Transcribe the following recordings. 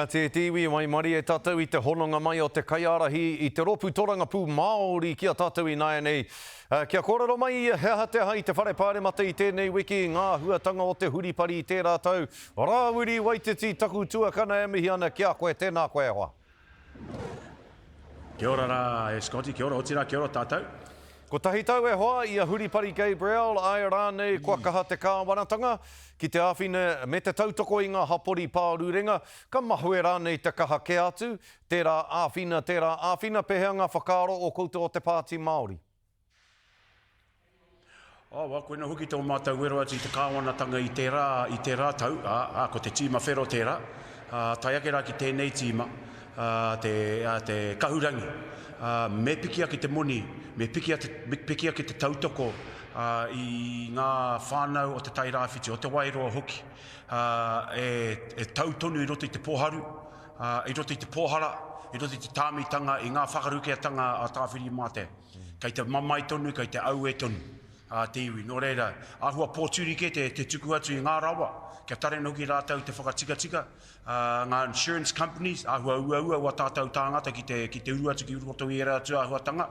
Ka tē te iwi waimarie tātou i te hononga mai o te kaiārahi i te rōpū torangapū Māori ki a tātou ināianei. Kia kōrero mai ia he aha te aha i te Whare Pāremata i tēnei wiki, ngā āhuatanga o te huripari i tērā tau. Rāwiri Waititi, taku tuakana e mihi ana ki a koe, tēnā koe e hoa. Kia ora rā e Scotty, kia ora, otirā kia ora tātou. Kotahi tau e hoa i a Huripari Gabriel, āe rānei kua kaha te kāwanatanga ki te āwhina me te tautoko i ngā hapori pārurenga, ka mahue rānei te kaha kē atu, tērā āwhina, tērā āwhina, pēhea ngā whakaaro o koutou o te Pāti Māori? Awa, koinā hoki tō mātou wero atu i te kāwanatanga i tērā, i tērā tau, ā, ko te tīma whero tērā, ā, tae ake rā ki tēnei tīma. a te kahurangi, ā, me piki ake te moni, me piki ake, me piki ake te tautoko, ā, i ngā whānau o Te Tai Rāwhiti, o Te Wairoa hoki, ā, e, e tau tonu i roto i te pōharu, ā, i roto i te pōhara, i roto i te tāmitanga, i ngā whakarukeatanga a Tāwhiri mā te, kei te mamae tonu, kei te aue tonu, ā, te iwi. Nō reira, āhua pōturi kē te, te tuku atu i ngā rawa, kia tare noa hoki rātou te whakatikatika, Ngā insurance companies, āhua uaua o ā tātou tāngata ki te, ki te uru atu ki roto i ērā atu āhuatanga.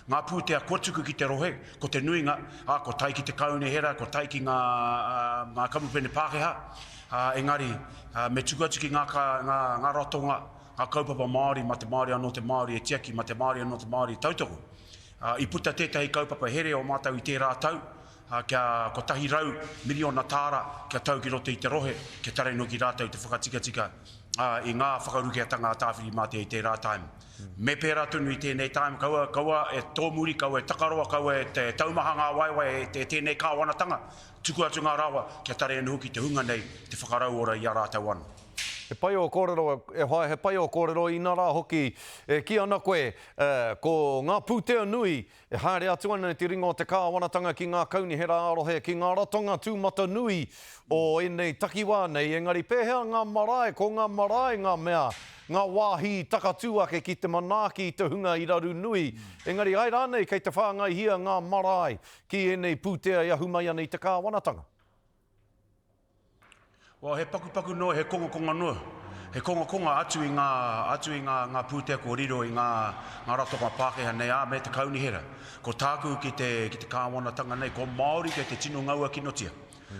Ngā pūtea kua tuku ki te rohe, ko te nuinga, ā, ko tai ki te kaunihera, ko tai ki ngā, ngā kamupene Pākehā. Engari, me tuku atu ki ngā, ngā, ngā ratonga, ngā kaupapa Māori, mā te Māori anō te Māori e tiaki, mā te Māori anō te Māori e tautoko. I puta tētahi kaupapa here o mātou i tērā tau, ā, kia kotahi rau miriona tāra kia tau ki roto i te rohe, kia tarai noa ki rātou te whakatikatika, ā, i ngā whakarukeatanga a Tāwhiri-mātea i tērā taim. Me pērā tonu i tēnei taim, kaua, kaua e tōmuri, kaua e takaroa, kaua e taumaha ngā waewae e tēnei kāwanatanga, tuku atu ngā rawa, kia tarai noa hoki te hunga nei te whakarauora i a rātou anō. He pai ō kōrero, e whaea he pai ō kōrero inarā hoki e kī ana koe ko ngā pūtea nui E haere atu ana te ringa o te kāwanatanga ki ngā kaunihera ā-rohe, ki ngā ratonga tūmatanui o ēnei takiwā nei, engari pēhea ngā marae? Ko ngā marae ngā mea, ngā wāhi i takatū ake ki te manaaki i te hunga i raru nui, engari ai rānei kei te whāngaihia ngā marae ki ēnei pūtea i ahu mai ana i te kāwanatanga? Well, he pakupaku noa, he kongakonga noa. He kongakonga atu i ngā, atu i ngā, ngā pūtea kua riro i ngā, ngā ratonga Pākehā nei, ā, me te kaunihera. Ko tāku ki te, ki te kāwanatanga nei, ko Māori kei te tino ngaua kinotia.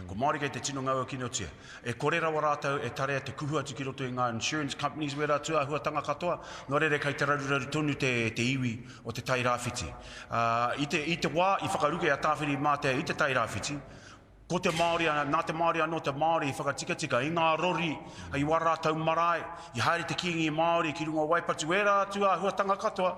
Ko Māori kei te tino ngaua kinotia. E kore rawa rātou e tarea te kuhu atu ki roto i ngā insurance companies me ērā tūāhuatanga katoa, nō reira kei te raruraru tonu te, te iwi o te Tairāwhiti. Ā, i te, i te wā i whakaruke a Tāwhiri-i-mātea i te Tairāwhiti, Ko te Māori, nā te Māori anō te Māori i whakatikatika i ngā rori, i wā rātou marae, i haere te Kīngi Māori ki runga waipatu, ērā atu āhuatanga katoa,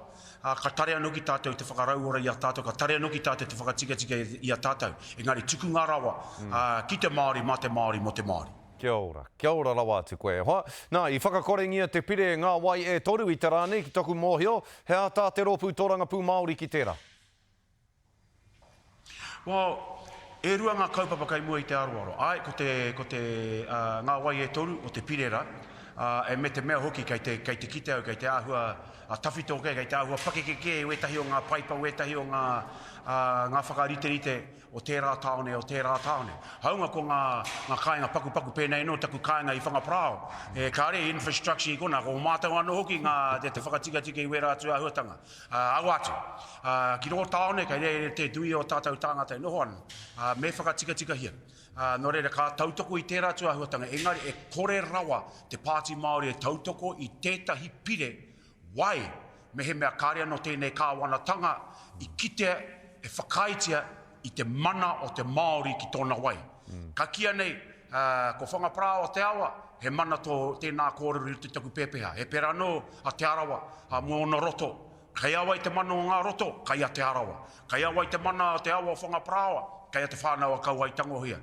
ā, ka tare anō ki tātou te whakarauora i a tātou, ka tare anō ki tātou te whakatikatika i a tātou. Engari tukunga rawa, ā, ki te Māori, mā te Māori, mō te Māori. Kia ora, kia ora rawa atu koe e hoa. Nā, i whakakorengia te pire e ngā wai e toru i te rā nei, ki toku mōhio, he āta te Rōpū Tōrangapū Māori ki tērā? Well, e rua ngā kaupapa kei mua i te aroaro. Āe, ko te, ko te, uh, ngā wai e toru o te pirera, uh, e me te mea hoki kei te, kei te kite au, kei te āhua uh, tawhito kē, kei te āhua pakeke kē i wētahi o ngā paipa, wētahi o ngā, uh, ngā whakariterite o tērā tāone, o tērā tāone. Haunga ko ngā, ngā kāinga pakupaku pēnei nō taku kāinga i Whangaparāo, e kāre infrastructure i kona, ko mātou anō hoki ngā te, te whakatikatika i wērā atu āhuatanga. Ā, aua atu. Ā, ki rō tāone kei reira te nui o tātou tāngata e noho ana. Ā, me whakatikatikahia. Ā, nō reira, ka tautoko i tērā atu āhuatanga, engari e kore rawa te Pāti Māori e tautoko i tētahi pire wai mehemea kāre anō tēnei Kāwanatanga i kitea, e whakaaetia, i te mana o te Māori ki tōna wai. Ka kīia nei, ko Whangaparāoa o te Awa, he mana tō tēnā kōrero i roto i taku pēpeha. He pērā anō a Te Arawa mō ōna roto. Kei a wai te mana o ngā roto? Kei a Te Arawa. Kei a wai te mana o te awa o Whangaparāoa? Kei a Te Whānau-a-Kauae-i-Tangohia.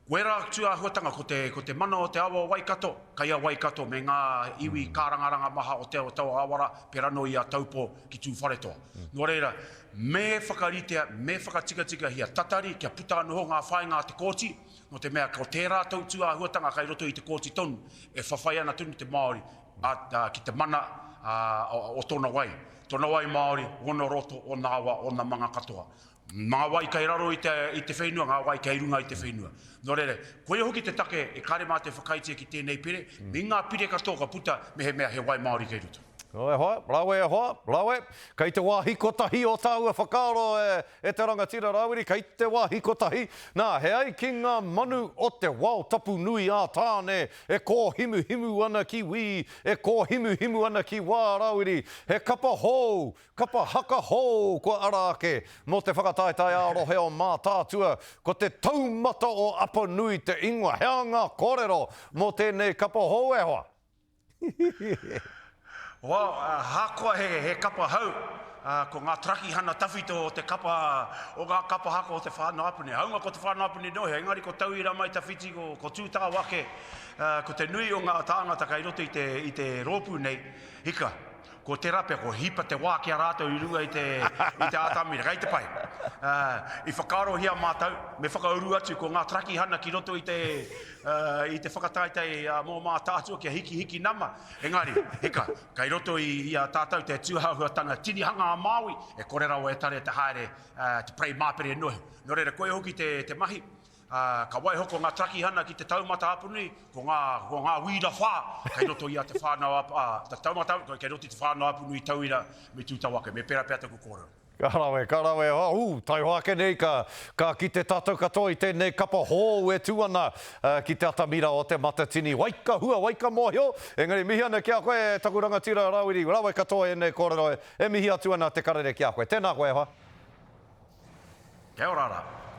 Wera atu āhuatanga ko te, ko te mana o te awa o Waikato, kei a Waikato me ngā iwi kārangaranga maha o Te Aotearoa-ā-wara, pērā nō i a Taupō ki Tūwharetoa. Nō reira, me whakaritea, me whakatikatikahia tatari kia puta noho ngā whāinga a te Kōti, nō te mea ko tērā tautū āhuatanga kei roto i te Kōti tonu e whawhai ana tonu te Māori ki te mana o tōna wai, tōna wai Māori, ōna roto, ōna awa, ōna manga katoa. Ngā wai kei raro i te, i te whenua, ngā wai kei runga i te whenua. Nō reira, koia hoki te take e kare mātou e whakaaetia ki tēnei pire, me ngā pire katoa ka puta mehemea he wai Māori kei roto. Nō e hoa, rawe e hoa, rawe. Kei te wāhi kotahi o tāua whakaaro e, e te rangatira Rawiri, kei te wāhi kotahi, nā, he ai ki ngā manu o te wao tapu nui ā Tāne e kōhimuhimu ana ki wī, e kōhimuhimu ana ki wā Rawiri, he kapa hou, Kapa haka hou kua ara ake mō te whakataetae ā-rohe o Mātaatua, ko te taumata o Apanui te ingoa. He aha ngā kōrero mō tēnei kapa hou e hoa? Hihihihi. Wow, ahakoa he kapa hou, ko ngā tarakihana tawhito o te kapa o ngā kapa haka o Te Whānau-a-Puni. Hāunga ko Te Whānau-a-Puni nō hea, engari ko tauira mai tawhiti, ko Tūtawake, ko te nui o ngā tāngata kei roto i te rōpū nei, hika. Ko tērā pea, kua hipa te wā ki a rātou i runga i te, i te atamira, kei te pai. Uh, I whakaarohia mātou, me whakauru atu ko ngā tarakihana ki roto i te, uh, i te whakataetae uh, mō Mātaatua kia hikihiki nama. Engari, hika, kei roto i, i a tātou te tūhahuatanga tinihanga a Māui, e kore rawa e tare te haere, uh, te prei māpere nohi. Nō reira, koia hoki te, te mahi. ā, ka waiho ko ngā takihana ki te taumata apanui, ko ngā, ko ngā wīra whā kei roto i a te whānau apu, ā, te taumata apanui, kei roto i te whānau apanui tauira me tū tau ake, me pērā pea taku kōrero. Ka rawe, ka rawe, ā, ū, taihoa ake nei ka, ka kite tātou katoa i tēnei kapa hōu e tū ana ki te atamira o Te Matatini. Wai ka hua, wai ka mōhio, engari mihi ana ki a koe e taku rangatira Rawiri, rawe katoa ēnei kōrero e mihi atu ana Te Karere ki a koe. Tēnā koe e hoa. Kia ora rā.